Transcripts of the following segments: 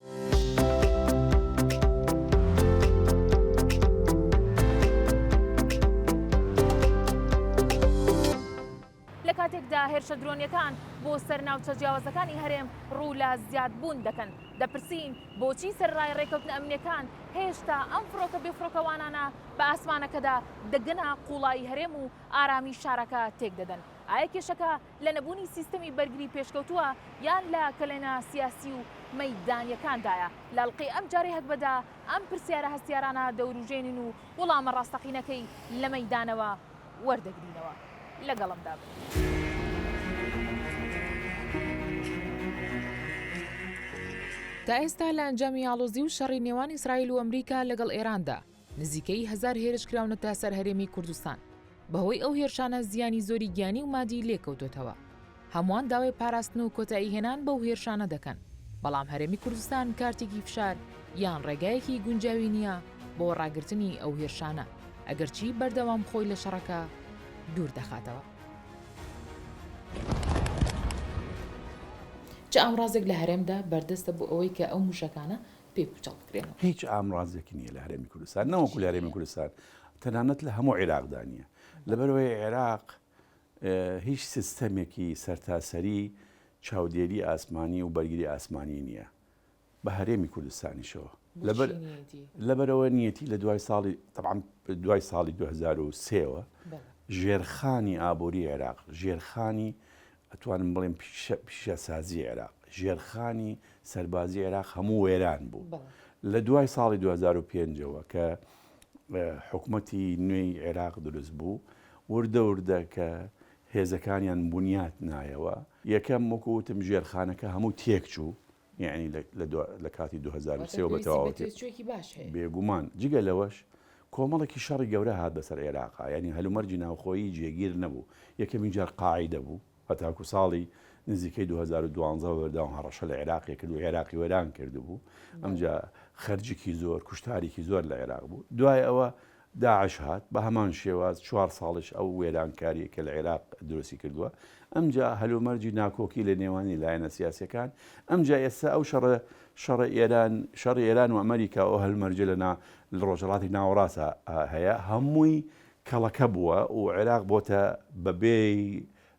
لە کاتێکدا هێرشە درۆنیەکان بۆ سەر ناوچە جیاوازەکانی هەرێم ڕوو لە زیادبوون دەکەن دەپرسین بۆچی سەرڕای ڕێککەوتنە ئەمنیەکان هێشتا ئەم فڕۆکە بێفرۆکەوانانە بە ئاسمانەکەدا دەگەنە قوڵایی هەرێم و ئارامی شارەکە تێک دەدەن ئایا کێشەکە لە نەبوونی سیستەمی بەرگری پێشکەوتووە یان لە کەلێنە سیاسی و مەیدانیەکاندایە؟ لە ئەڵقەی ئەمجارەی هەگبەدا ئەم پرسیارە هەستیارانە دەوروژێنین و وڵامە ڕاستەقینەکەی لە مەیدانەوە وەردەگرینەوە. لەگەڵمدا بن. تا ئێستا لە ئەنجامی ئاڵۆزی و شەڕی نێوان ئیسرائیل و ئەمریکا لەگەڵ ئێراندا، نزیکەی هەزار هێرش کراونەتە سەر هەرێمی کوردستان، بەهۆی ئەو هێرشانە زیانی زۆری گیانی و مادی لێکەوتۆتەوە، هەمووان داوای پاراستن و کۆتایی هێنان بەو هێرشانە دەکەن، بەڵام هەرێمی کوردستان کارتێکی فشار یان ڕێگایەکی گونجاوی نییە بۆ ڕاگرتنی ئەو هێرشانە، ئەگەرچی بەردەوام خۆی لە شەڕەکە دوور دەخاتەوە. چ ئامڕازێک لە هەرێمدا بەردەستە بۆ ئەوەی کە ئەو مووشەکانە پێ پوچەڵ بکرێنەوە. هیچ ئامرازێکی نییە لە هەرێمی کوردستان نەوەکو لە هەرێمی کوردستان تەنانەت لە هەموو عێراقدا نییە لەبەرەوەی عێراق هیچ سیستەمێکی سەرتاسەری چاودێری ئاسمانی و بەرگری ئاسمانی نییە بە هەرێمی کوردستانیشەوە لەبەر لەبەرەوە نیەتی لە دوای ساڵی طبعاان دوای ساڵی 2023ەوە ژێرخانی ئابووری عێراق ژێرخانی ئەتوانم بڵێم پیشەسازی عێراق، ژێرخانی سەربازی عێراق هەموو وێران بوو. لە دوای ساڵی 2005ەوە کە حکوومەتی نوێی عێراق دروست بوو، وردە وردە کە هێزەکانیان بنیات نایەوە، یەکەم وەکووتم ژێرخانەکە هەموو تێک چوو، یەعنی لە دو لە کاتی دوو هەزار و سێ وە بە تەواوەتی واتە پێویستی بە تێچووێکی باش هەیە. بێگومان، جگە لەوەش کۆمەڵێکی شەڕی گەورە هات بەسەر ئێراقا، یەعنی هەلومەرجی ناوخۆیی جێگیر نەبوو، یەکەمین جار قاعیدە بوو، هەتاکوو ساڵی نزیکەی دوو هەزار و دوازدە بە بەردەوام هەڕەشە لە عێراقی کرد و عێراقی وێران کردبوو، ئەمجا خەرجیکی زۆر، کوشتاریکی زۆر لە عێراق بوو، دوای ئەوە داعش هات بە هەمان شێواز چوار ساڵیش ئەو وێرانکاریە کە لە عێراق دروستی کردوە ئەمجا هەلومەرجی ناکۆکی لە نێوانی لایەنە سیاسیەکان ئەمجا ئێستا ئەو شەڕە شەڕە ئێران شەڕی ئێران و ئەمەریکا و هەلمەرجە لە نا لە ڕۆژەڵاتی ناوەڕاستە هەیە هەمووی کەڵەکە بووە و عێراق بۆتە بەبێی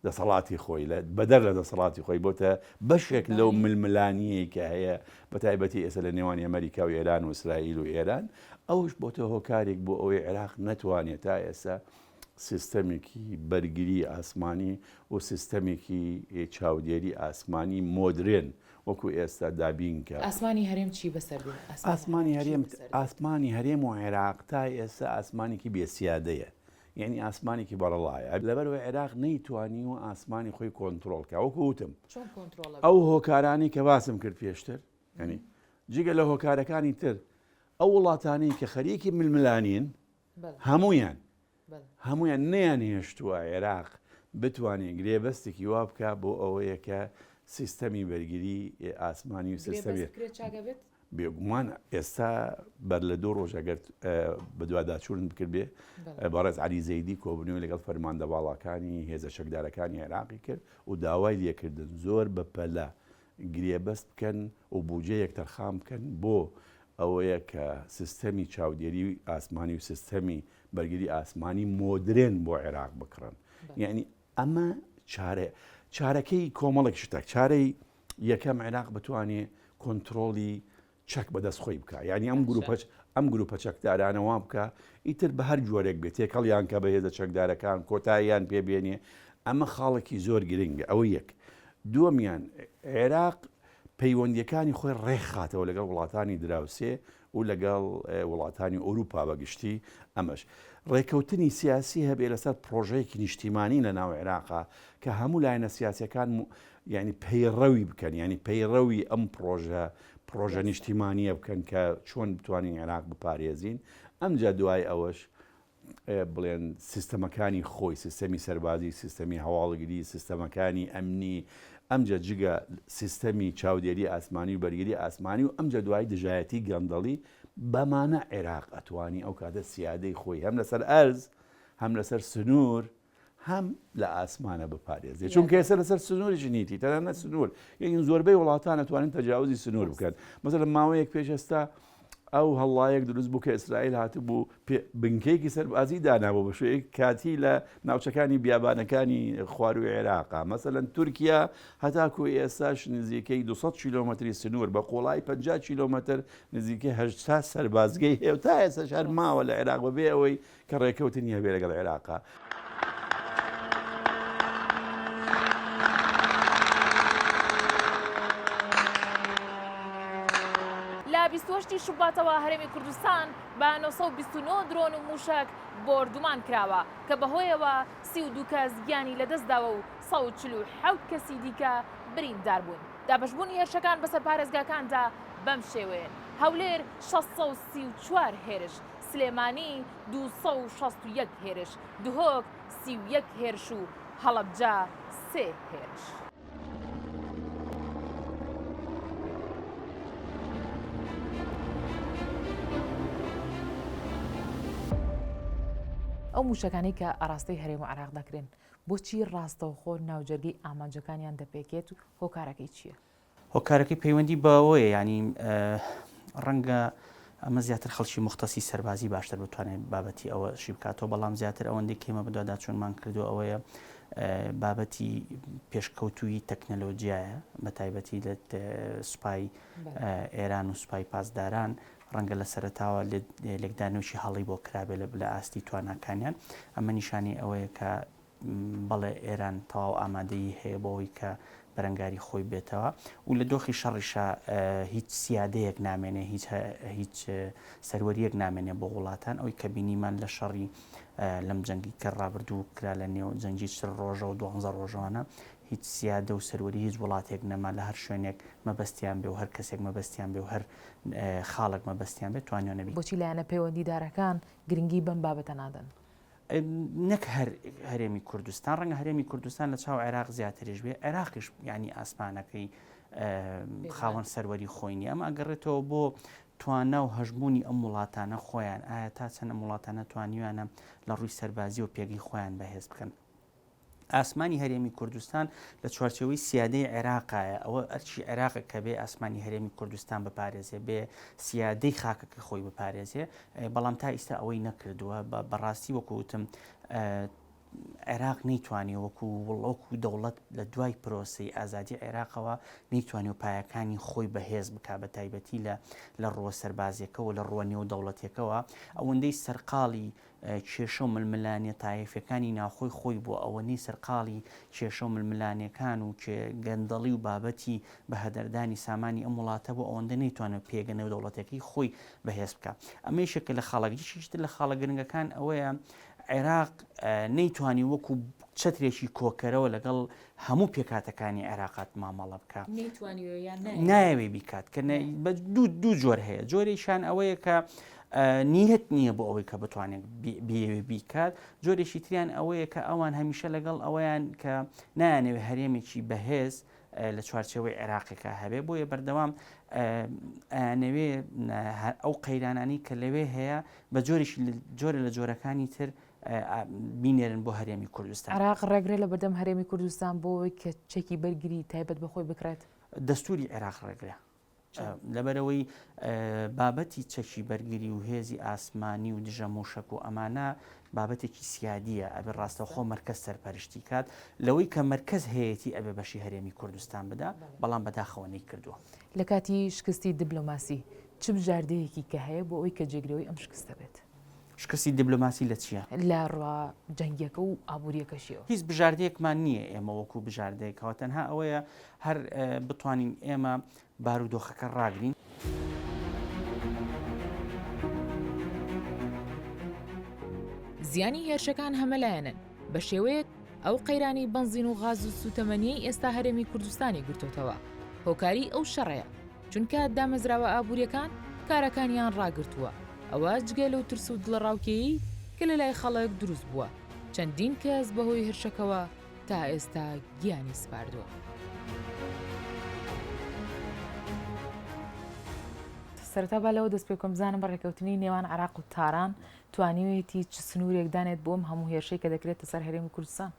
دەسەڵاتی خۆی لە بەدەر لە دەسەڵاتی خۆی بۆتە بەشێک لەو ململانیەی کە هەیە بە تایبەتی ئێستا لە نێوانی ئەمریکا و ئێران و ئیسرائیل و ئێران ئەوش بۆتە هۆکارێک بۆ ئەوەی عێراق نەتوانێت تا ئێستا سیستەمێکی بەرگری ئاسمانی و سیستەمێکی چاودێری ئاسمانی مۆدرێن وەکو ئێستا دابینکە ئاسمانی هەرێم چی بەسەر ئاسمانی هەرێم ئاسمانی هەرێم و عێراق تا ئێستا ئاسمانێکی بێسیادەیە یەعنی ئاسمانێکی بەڕەڵایە لەبەرئەوەی عێراق نەیتوانیوە ئاسمانی خۆی کۆنتڕۆڵ کە وەکو وتم چۆن کۆنتڕۆڵە ئەو هۆکارانی کە باسم کرد پێشتر یەنی جگە لە هۆکارەکانی تر ئەو وڵاتانی کە خەریکی ململانین بەڵێ هەمویان بەڵێ هەمویان نیان هێشتووە عێراق بتوانێت گرێبەستێکی وا بکە بۆ ئەوەیە کە سیستەمی بەرگری ئاسمانی و سیستەمی گرێبەست کرێ چاگە بێت بێگومان ئێستا بەر لە دوو ڕۆژ ئەگەر بەدواداچوونت بکردێ بەڕێز علی زەیدی کۆبنەوەی لەگەڵ فەرماندە باڵاکانی هێزە شەکدارەکانی عێراقی کرد و داوای لێکردن زۆر بە پەلە گرێبەست بکەن و بودجەیەک تەرخان بکەن بۆ ئەوەیە کە سیستەمی چاودێری و ئاسمانی و سیستەمی بەرگری ئاسمانی مۆدرێن بۆ عێراق بکڕن یعنی ئەمە چارە چارەکەی کۆمەڵێک شتە چارەی یەکەم عێراق بتوانێ کۆنترۆڵی چەک بەدەست خۆی بکە یعنی ئەم گروپەچ ئەم گروپە چەکدارانەوە بکە ئیتر بە هەر جۆرێک بێت تێکەڵیان کە بەهێزە چەکدارەکان کۆتاییان پێبێنێ ئەمە خاڵێکی زۆر گرنگە ئەوە یەک دووەمیان عێراق پەیوەندیەکانی خۆی ڕێکخاتەوە لەگەڵ وڵاتانی دراوسێ و لەگەڵ وڵاتانی ئەوروپا بە گشتی ئەمەش ڕێکەوتنی سیاسی هەبێ لەسەر پڕۆژەیەکی نیشتیمانی لە ناو عێراقا کە هەموو لایەنە سیاسەکان یعنی پەیڕەوی بکەن ینی پەیڕەوی ئەم پڕۆژە پڕۆژە نیشتیمانیە بکەن کە چۆن بتوانین عێراق بپارێزین ئەمجا دوای ئەوەش بڵێن سیستەمەکانی خۆی، سیستەمی سەربازی، سیستەمی هەواڵگری، سیستەمەکانی ئەمنی، ئەمجا جگە سیستەمی چاودێری ئاسمانی و بەرگری ئاسمانی و ئەمجا دوای دژایەتی گەندەڵی، بەمانە عێراق ئەتوانی ئەو کاتە سیادەی خۆی هەم لەسەر ئەرز، هەم لەسەر سنوور، هەم لە ئاسمانە بپارێزێت چونکە ئێستا لەسەر سنووری ژنیتی تەنانە سنوور یەکن زۆربەی وڵاتان نتوانین تەجاوزی سنوور بکەن مەسەر لە ماوەیەک پێش ئێستا ئەو هەڵڵایەک دروست بوو کە ئیسرائیل هاتبوو بنکەیەکی سەربازی دانابوو بە شوێک کاتی لە ناوچەکانی بیابانەکانی خواروی عێراقا مەسەەن تورکیا هەتاکو ئێستاش نزیکەی 200 کیلومتری سنوور بە قۆڵای 50 کیلومتر نزیکە هەشتا سەربازگەی هێوتا ئێستا شار ماوە لە عێراق بەبێ ئەوەی کە ڕێکەوتنی هەبێ لەگەڵ عێراق. لە بیست و هەشت ی شوباتەوە هەرێمی کوردستان بە نۆ سەد و بیست و نۆ درۆن و مووشەک بۆردومان کراوە، کە بەهۆیەوە سی و دوو کەس گیانی لەدەستداوە و سەد و چل و حەوت کەسی دیکە بریندار بوون. دابەشبوونی هێرشەکان بەسەر پارێزگاکاندا بەمشێوەیەن، هەولێر شەش سەد و سی و چوار هێرش، سلێمانی دوو سەد و شەست و یەک هێرش، دهۆک سی و یەک هێرش و هەڵەبجە سێ هێرش. ئەو مووشەکانەی کە ئاراستەی هەرێم و عێراق دەکرێن، بۆچی ڕاستەوخۆ ناوجەرگەی ئامانجەکانیان دەپێکێت و هۆکارەکەی چییە؟ هۆکارەکەی پەیوەندی بەوەیە یانی ڕەنگە ئەمە زیاتر خەڵکی مختەسی سەربازی باشتر بتوانێت بابەتی ئەوە شی بکاتەوە بەڵام زیاتر ئەوەندەی کێمە بدوادا چۆنمان کردو ئەوەیە بابەتی پێشکەوتووی تەکنەلۆجیایە بە تایبەتی لە سوپای ئێران و سوپای پاسداران ڕەنگە لە سەرتاوە لێکدانوشی هەڵی بۆ کرابێ لە بلە ئاستی تواناکانیان ئەمە نیشانی ئەوەیە کە بەڵێ ئێران تەواو ئامادەیی هەیە بۆ ئەوەی کە بەرەنگاری خۆی بێتەوە و لە دۆخی شەڕیشا هیچ سیادەیەک نامێنێ هیچ سەروەریەک نامێنێ بۆ وڵاتان ئەوی کە بینیمان لە شەڕی لەم جەنگی کە ڕابردوو کرا لە نێو جەنگی چر ڕۆژە و دوانزە ڕۆژەوانە هیچ سیادە و سەروەری هیچ وڵاتێک نەما لە هەر شوێنێک مەبەستیان بێ و هەر کەسێک مەبەستیان بێ و هەر خاڵک مەبەستیان بێت توانیانەبی بۆچی لایەنە پەیوەندیدارەکان گرنگی بەم بابەتە نادەن؟ نەک هەر هەرێمی کوردستان ڕەنگە هەرێمی کوردستان لە چاو عێراق زیاتریش بێ عێراقیش ینی ئاسمانەکەی خاوەن سەروەری خۆی نیە ئەمە ئەگەڕێتەوە بۆ توانا و هەژمونی ئەم وڵاتانە خۆیان ئایا تا چەنە وڵاتانە توانیویانە لە ڕووی سەربازی و پێگەی خۆیان بەهێز بکەن ئاسمانی هەرێمی کوردستان لە چوارچێوەی سیادەی عێراقایە ئەوە ئەرچی عێراقە کە بێ ئاسمانی هەرێمی کوردستان بپارێزێ بێ سیادەی خاکەکە خۆی بپارێزێ بەڵام تا ئیستا ئەوەی نەکردووە بە بەڕاستی وەکوتم عێراق نەیتوانێ وەکو وڵۆک و دەوڵەت لە دوای پرۆسی ئازادی عێراقەوە نەیتوانێ و پایەکانی خۆی بەهێز بک بە تایبەتی لە لە ڕووە سەربازیەکەەوە لە ڕووە نێو دەوڵەتێکەوە ئەوەندەی سەرقاڵی کێشە و ململانێ تایەفیەکانی ناوخۆی خۆی بووە ئەوەنەی سەرقاڵی کێشە و ململانێکان و گەندەڵی و بابەتی بەهەدەردانی سامانی ئەم وڵاتە بوو ئەوەندە نەیتوانێت پێگە نێودەوڵەتیەکەی خۆی بەهێز بکا ئەمە یەکێکە لە خاڵە یەکێکی تر لە خاڵە گرنگەکان ئەوەیە عێراق نەیتوانی وەکو چەترێکی کۆکەرەوە لەگەڵ هەموو پێکهاتەکانی عێراقات مامەڵە بکە نایەوێ بیکات کە دوو جۆر هەیە جۆرێکیان ئەوەیە کە نیەت نییە بۆ ئەوەی کە بتوانێت بێوێ بیکات جۆرێکی تریان ئەوەیە کە ئەوان هەمیشە لەگەڵ ئەوەیان کە نایانەوێ هەرێمێکی بەهێز لە چوارچەوەی عێراقێکە هەبێ بۆیە بەردەوام ئەیانەوێ ئەو قەیرانانی کە لەوێ هەیە بە جۆرێکی جۆرە لە جۆرەکانی تر بینێرن بۆ هەرێمی کوردستان. عێراق ڕێگرە لە بەردەم هەرێمی کوردستان بۆ ئەوەی کە چەکی بەرگری تایبەت بە خۆی بکڕێت؟ دەستووری عێراق ڕێگرە لەبەرەوەی بابەتی چەکی بەرگری و هێزی ئاسمانی و دژە موشک و ئەمانە بابەتێکی سیادیە ئەبێ ڕاستەخۆ مرکز سەرپەرشتی کات لەوەی کە مرکز هەیەی ئەبێ بەشی هەرێمی کوردستان بدا بەڵام بەداخەوەنی کردووە لە کاتی شکستی دبلۆماسی چ بژاردەیەکی کە هەیە بۆ ئەوی کە جێگرەوەی ئەم شکستە بێت. شکستی دبلۆماسی لە چیە؟ لە ڕوە جەنگیەکە و ئابوریەکەشیەوە. هیچ بژاردەیەکمان نیە ئێمە وەکو بژاردەیەکەوە تەنها ئەوەیە هەر بتوانین ئێمە بارودۆخەکە ڕاگرین. زیانی هێرشەکان هەمەلایەنەن، بە شێوەیەک ئەو قەیرانەی بەنزین و غاز و سووتەمەنییەی ئێستا هەرێمی کوردستانی گرتۆتەوە هۆکاری ئەو شەڕەیە، چونکە دامەزراوە ئابووریەکان کارەکانیان ڕاگرتووە، ئەوە جگە لەو ترس و دڵەڕاوکێیەی کە لەلای خەڵک دروست بووە، چەندین کەس بەهۆی هرشەکەوە تا ئێستا گیانی سپاردووە. سەرەتا با لەوە دەست پێ بکەم بزانم ڕێکەوتنی نێوان عێراق و تاران توانیویەتی چ سنوورێک دانێت بۆ ئەم هەموو هێرشەی کە دەکرێتە سەر هەرێمی کوردستان؟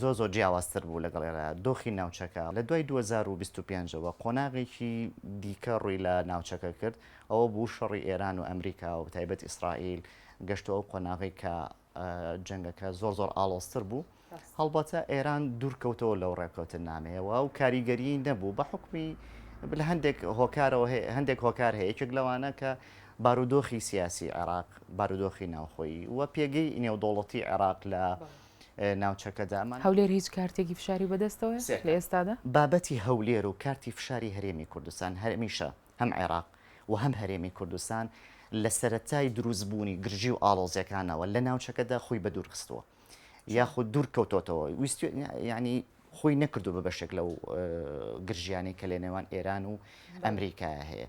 زۆر زۆر جیاوازتر بوو لەگەڵ ئێرە دۆخی ناوچەکە لە دوای دوو هەزار و بیست و پێنج ەوە قۆناغێکی دیکە ڕووی لە ناوچەکە کرد ئەوە بوو شەڕی ئێران و ئەمریکا و تایبەت ئیسرائیل گەشتو ئەو قۆناغی کە جەنگەکە زۆر زۆر ئاڵۆزتر بوو هەڵبەتە ئێران دوورکەوتەوە لەو ڕێککەوتن نامەیەوە و کاریگەری نەبوو بە حکمی لە هەندێک هۆکارەوە هەندێک هۆکار هەیە یەکێک لەوانە کە بارودۆخی سیاسی عێراق بارودۆخی ناوخۆی و پێگەی نێودوڵەتی عێراق لە ناوچەکەدا. هەولێر هیچ کارتێکی فشاری بەدەستەوەیە لە ئێستادا؟ بابەتی هەولێر و کارتی فشاری هەرێمی کوردستان هەمیشە هەم عێراق و هەم هەرێمی کوردستان لە سەرەتای دروستبوونی گرژی و ئاڵۆزیەکانەوە لە ناوچەکەدا خۆی بە دوورخستووە یاخود دوور کەوتۆتەوە ویست ینی خۆی نەکردو بە بەشێک لەو گرژیانەی کە لە نێوان ئێران و ئەمریکا هەیە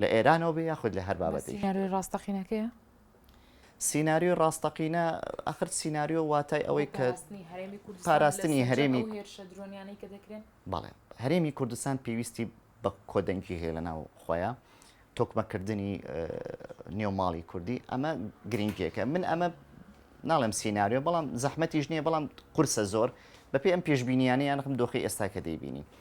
لە ئێرانەوە بێ یاخود لە هەر بابەتێک سیناریۆی ڕاستەقینەکەیە سیناریۆی ڕاستەقینە ئەخر سیناریۆ واتای ئەوەی کە پاراستنی هەرێمی بەڵێ هەرێمی کوردستان پێویستی بە کۆدەنگی هەیە لە ناو خۆیان تۆکمەکردنی نێوماڵی کوردی ئەمە گرنگیەکە من ئەمە ناڵێم سینناریۆ بەڵام زەحمەتیش نییە بەڵام قورسە زۆر بەپی ئەم پێشببینیانە یانخم دۆخی ئێستا کە دەیبینی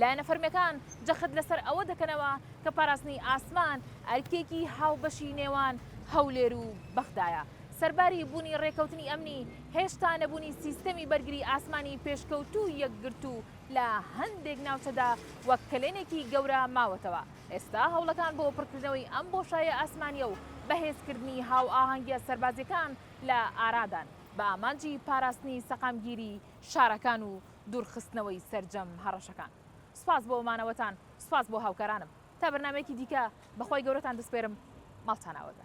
لایەنە فەرمییەکان جەخت لەسەر ئەوە دەکەنەوە کە پاراستنی ئاسمان ئەرکێکی هاوبەشی نێوان هەولێر و بەغدایە، سەرباری بوونی رێککەوتنی ئەمنی، هێشتا نەبوونی سیستەمی بەرگری ئاسمانی پێشکەوتوو یەکگرتوو لە هەندێک ناوچەدا وەک کەلێنێکی گەورە ماوەتەوە، ئێستا هەوڵەکان بۆ پڕکردنەوەی ئەم بۆشایە ئاسمانییە و بەهێزکردنی هاوئاهەنگییە سەربازییەکان لە ئارادان، بە ئامانجی پاراستنی سەقامگیری شارەکان و دوورخستنەوەی سەرجەم هەڕەشەکان. سوپاس بۆ مانەوەتان، سوپاس بۆ هاوکارانم. تا بەرنامەیەکی دیکە بە خوای گەورەتان دەسپێرم، ماڵتان ئاوە بێ.